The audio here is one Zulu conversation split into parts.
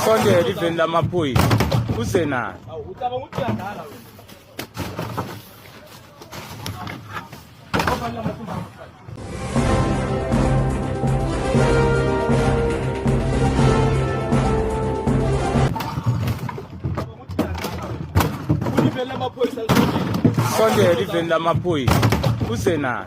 sondela iveni lamaphoyisa uze nayo sondela iveni lamaphoyisa uze nayo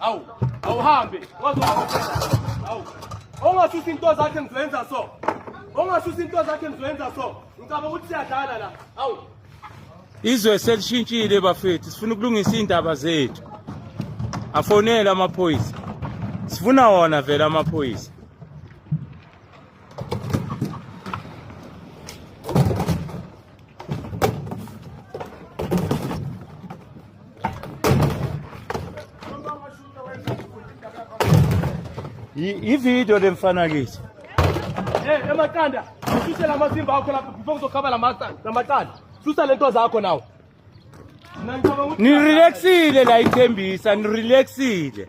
awu awuhambe awu ongasusa into zakhe ngizoyenza so ongasusa into zakhe ngizoyenza so ngicabanga ukuthi siyadlala la awu izwe selishintshile bafethu sifuna ukulungisa iy'ndaba zethu afonele amaphoyisa sifuna wona vele amaphoyisa ividiyo lemfanakisi Hey, eh, emaqanda, ususe la masimba akho lapho before kuzokhaba la maqanda, la maqanda. Susa lento zakho nawo. Nirelaxile la ithembisa, nirelaxile.